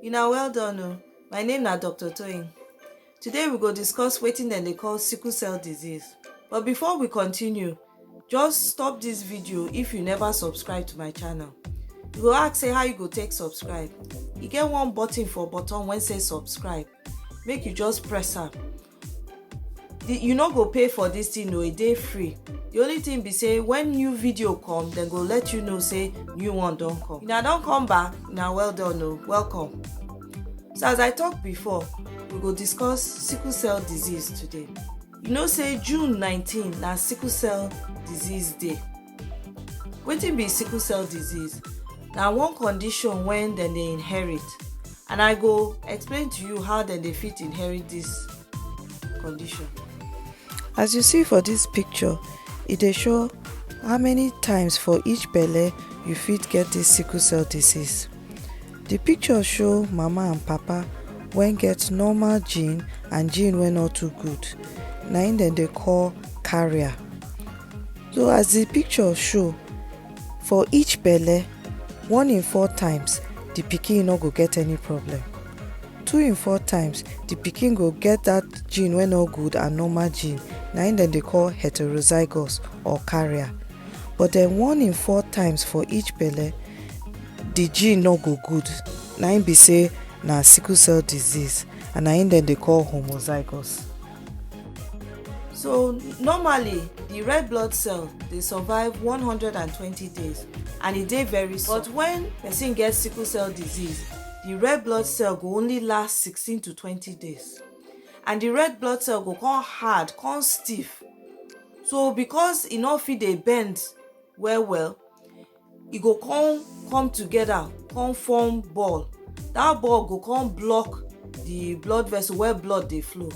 Una well done o, my name na Doctor Toyin. Today we go discuss wetin dem dey call sickle cell disease. But before we continue, just stop this video if you never subscribe to my channel. You go ask say how you go take subscribe. E get one button for bottom wey say subscribe. Make you just press am. The- you no go pay for this thing o e dey free the only thing be say when new video come dem go let you know say new one don come una don come back na well done o welcome so as i talk before we go discuss sickle cell disease today you know say june 19 na sickle cell disease day Wetin be sickle cell disease? Na one condition wen dem dey inherit and I go explain to you how dem dey fit inherit dis condition. As you see for dis picture, e dey show how many times for each belle you fit get dis sickle cell disease. Di picture show mama and papa wen get normal gene and gene wey no too good, na im dem dey call carrier. so as di picture show for each belle one in four times di pikin no go get any problem two in four times di pikin go get dat gene wey no good and normal gene na im dem dey call heterozygous or carrier but den one in four times for each belle di gene no go good na im be say na sickle cell disease and na im dem dey call homozygous. so normally the red blood cell dey survive 120 days and e dey very small but when person get sickle cell disease the red blood cell go only last 16 to 20 days and the red blood cell go come hard come stiff so because e no fit dey bend well well e go come come together come form ball that ball go come block the blood vessel where blood dey flow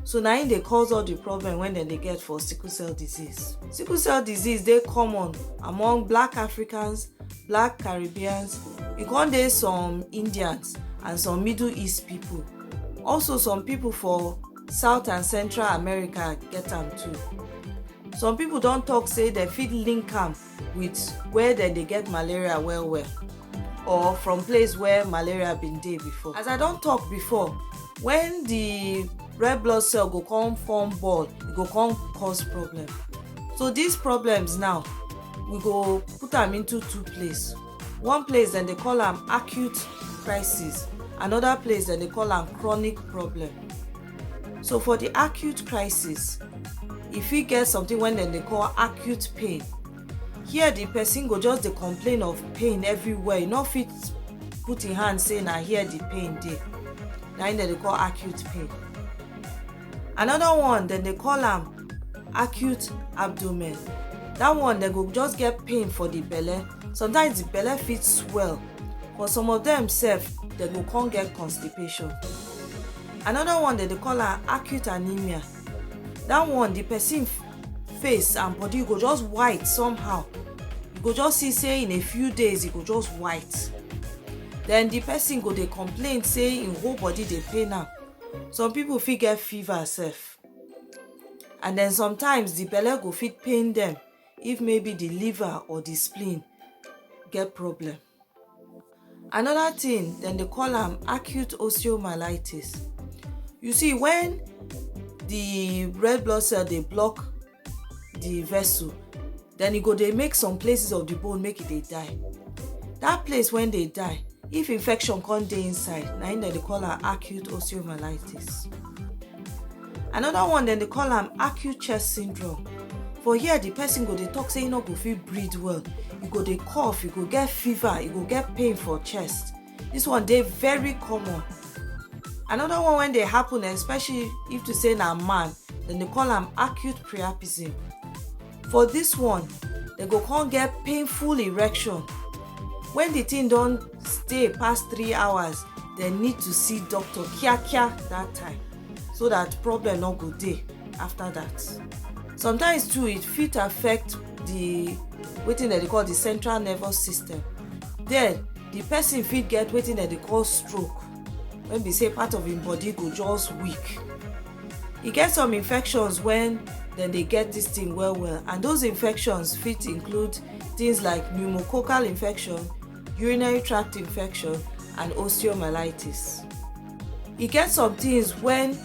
so na im dey cause all the problem wey dem dey get for sickle cell disease sickle cell disease dey common among black africans black caribbeans e come dey some indians and some middle east people also some people for south and central america get am too some people don talk say dem fit link am with where dem dey get malaria well well or from place where malaria been dey before as i don talk before when the red blood cell go come form ball e go come cause problem so these problems now we go put am into two place one place dem dey call am acute crisis another place dem dey call am chronic problem So for the acute crisis, e fit get something wey dem dey call acute pain. Here the person go just dey complain of pain everywhere, e no fit put im hand say na here the pain dey. Na im dem dey call acute pain. Another one dem dey call am acute abdomen. That one dem go just get pain for the belle. Sometimes the belle fit swell. For some of dem sef, dem go come get constipation. another one dem dey call am acute anemia that one the person face and body go just white somehow you go just see say in a few days e go just white then the person go dey complain say im whole body dey pain am some people fit get fever sef and then sometimes the belle go fit pain them if maybe the liver or the spleen get problem Another thing, then they call them acute osteomyelitis. You see, when the red blood cell they block the vessel, then you e go they make some places of the bone make it e they die. That place when they die, if infection come dey inside, now they call am acute osteomyelitis. another one dem dey call am acute chest syndrome for here the person go dey talk say e no go fit breathe well e go dey cough e go get fever e go get pain for chest this one dey very common another one wey dey happen especially if to say na man dem dey call am acute priapism for this one dem go come get painful erection when the thing don stay pass three hours dem need to see doctor kiakia that time so that problem no go dey after that sometimes too it fit affect the wetin dem dey call the central nervous system there the person fit get wetin dem dey call stroke wey be say part of im body go just weak E get some infections when dem dey get this thing well well and those infections fit include things like pneumococcal infection, urinary tract infection and osteomyelitis. E get some things when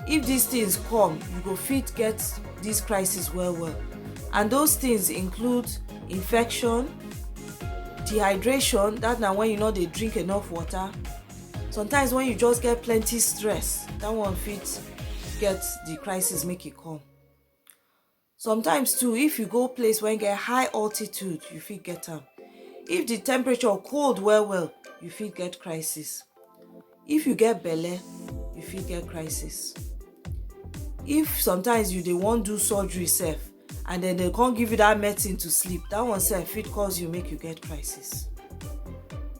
if these things come you go fit get this crisis well well and those things include infection, dehydration that na when you no dey drink enough water, sometimes when you just get plenty stress that one fit get the crisis make e come sometimes too if you go place wey get high altitude you fit get am if the temperature cold well well you fit get crisis if you get belle you fit get crisis if sometimes you dey wan do surgery sef and then they come give you that medicine to sleep that one sef fit cause you make you get crisis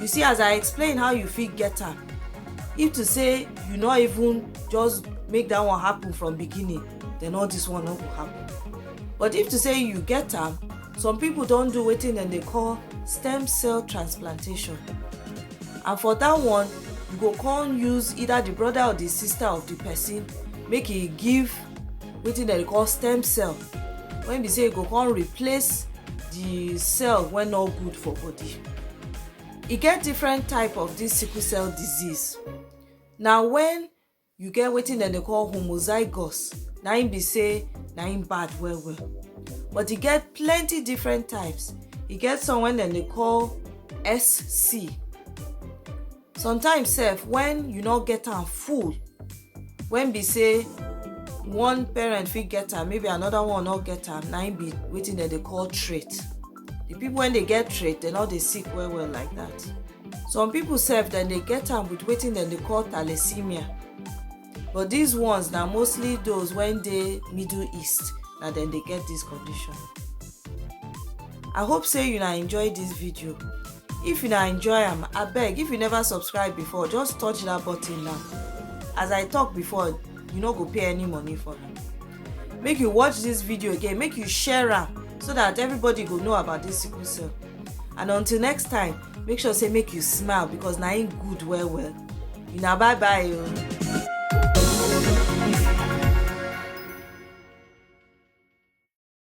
you see as i explain how you fit get am if to say you no even just make that one happen from beginning then all this one no go happen but if to say you get am some people don do wetin dem dey call stem cell transplantation and for that one you go come use either the brother or the sister of the person make e give wetin dem dey call stem cell when be say e go come replace the cell wey no good for body e get different type of this sickle cell disease na when you get wetin dem dey call homozygous na im be say na im bad well well but e get plenty different types e get some wey dem dey call sc sometimes sef when you no get am full when be say one parent fit get am maybe another one no get am na im be wetin dem dey call trait the people wey dey get trait dem no dey sick well well like that some people sef dem dey get am with wetin dem dey call thalassemia but dis ones na mostly those wey dey middle east na dem dey get dis condition i hope say una enjoy dis video if una enjoy am abeg if you never subscribe before just touch dat button now as i talk before you no go pay any money for am make you watch dis video again make you share am so dat everybody go know about dis sickle cell and until next time make sure say make you smile because na im good well well una bye bye o. Oh.